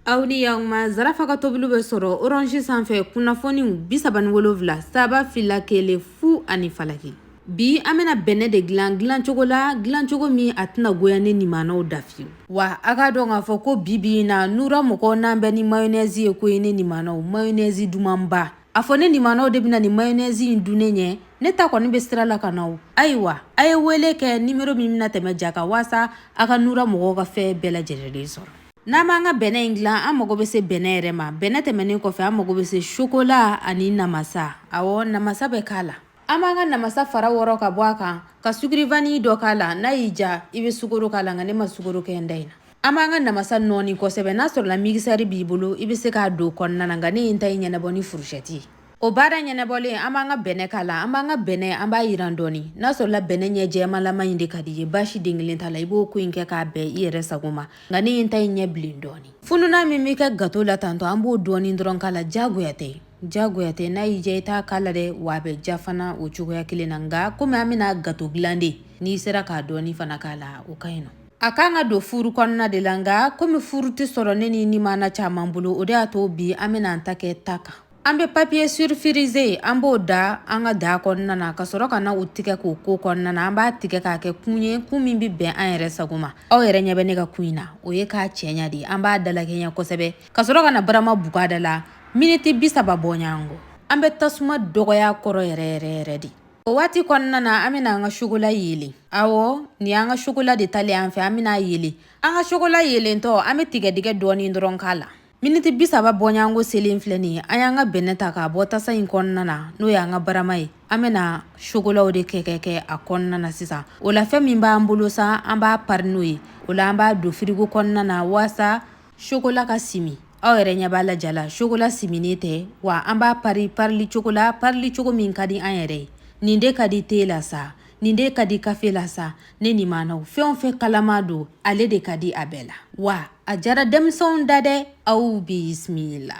aw ni y'aw ma zarafa ka tobiliw bɛ sɔrɔ orange sanfɛ kunnafoniw bi saba ni wolonwula saba fila kelen fu ani falaki bi an bɛna bɛnɛ de dilan dilancogo la dilancogo min a tɛna goya ne nimanaw da fiyewu wa a k'a dɔn k'a fɔ ko bi bi in na nura mɔgɔw n'an bɛ ni mayonɛzi ye koyi ne nimanaw mayonɛzi dumanba a fɔ ne nimanaw de bɛna nin mayonɛzi in dun ne ɲɛ ne ta kɔni bɛ sira la ka na o ayiwa a ye wele kɛ nimero min bɛna tɛmɛ ja kan waasa a ka nura mɔgɔw ka fɛn bɛɛ lajɛlen sɔrɔ N'an b'an ka bɛnɛ in dilan an mago bɛ se bɛnɛ yɛrɛ ma bɛnɛ tɛmɛnen kɔfɛ an mago bɛ se sokola ani namasa awɔ namasa bɛ k'a la an b'an ka namasa fara wɔrɔ ka bɔ a kan ka sucre vanille dɔ k'a la n'a y'i ja i bɛ sukoro k'a la nka ne ma sukoro kɛ n ta in na an b'an ka namasa nɔɔni kosɛbɛ n'a sɔrɔla migisɛri b'i bolo i bɛ se k'a don kɔnɔna na nka ne ye n ta in ɲɛnabɔ ni furusɛti ye o baara ɲɛnabɔlen an b'an ka bɛnɛ k'a la an b'an ka bɛnɛ an b'a yiran dɔɔni n'a sɔrɔla bɛnɛ ɲɛ jɛmalama in de ka d'i ye baasi den kelen t'a la i b'o ko in kɛ k'a bɛn i yɛrɛ sago ma nka ne ye n ta in ɲɛ bilen dɔɔni fununan min bɛ kɛ gato la tantɔ an b'o dɔɔni dɔrɔn k'a la diyagoya tɛ diyagoya tɛ n'a y'i diya i t'a k'a la dɛ wa a bɛ ja fana o cogoya kelen na nka komi an bɛna gato dilan de n'i sera k'a dɔɔni fana k'a la o ka ɲi nɔ a kan ka don furu kɔnɔna de la nka komi furu tɛ sɔrɔ ne ni nimana caman bolo o de y'a to bi an bɛna an ta kɛ ta kan An bɛ papier sulfurisé an b'o da an ka da kɔnɔna na ka sɔrɔ ka na o tigɛ k'o k'o kɔnɔna na an b'a tigɛ k'a kɛ kun ye kun min bɛ bɛn an yɛrɛ sago ma aw yɛrɛ ɲɛ bɛ ne ka kun in na o ye k'a cɛɲa de an b'a dalakɛɲɛ kosɛbɛ ka sɔrɔ ka na barama buga da la miniti bi saba bɔɲɔgɔnko an bɛ tasuma dɔgɔya kɔrɔ yɛrɛ yɛrɛ yɛrɛ de o waati kɔnɔna na an bɛna an ka sokola yeelen awɔ nin an ka sokola de talen an fɛ an bɛna a yeelen an ka sokola yeelentɔ an bɛ tigɛdɛgɛ dɔɔnin dɔrɔn k'a la miniti bi saba bɔɲɔgɔnko selen filɛ nin ye an y'an ka bɛnɛ ta k'a bɔ tasa in kɔnɔna na n'o y'an ka barama ye an bɛna sokolaw de kɛ kɛ kɛ a kɔnɔna na sisan o la fɛn min b'an bolo sa an b'a pari n'o ye o la an b'a don firigo kɔnɔna na waasa sokola ka simi aw yɛrɛ ɲɛ b'a la ja la sokola siminen tɛ wa an b'a pari parili cogo la parili cogo min ka di an yɛrɛ ye nin de ka di te la sa nin de ka di kafe la sa ne nimanaw fɛn o fɛn kalama don ale de ka di a bɛɛ la wa a jara denmisɛnw da dɛ aw bisimila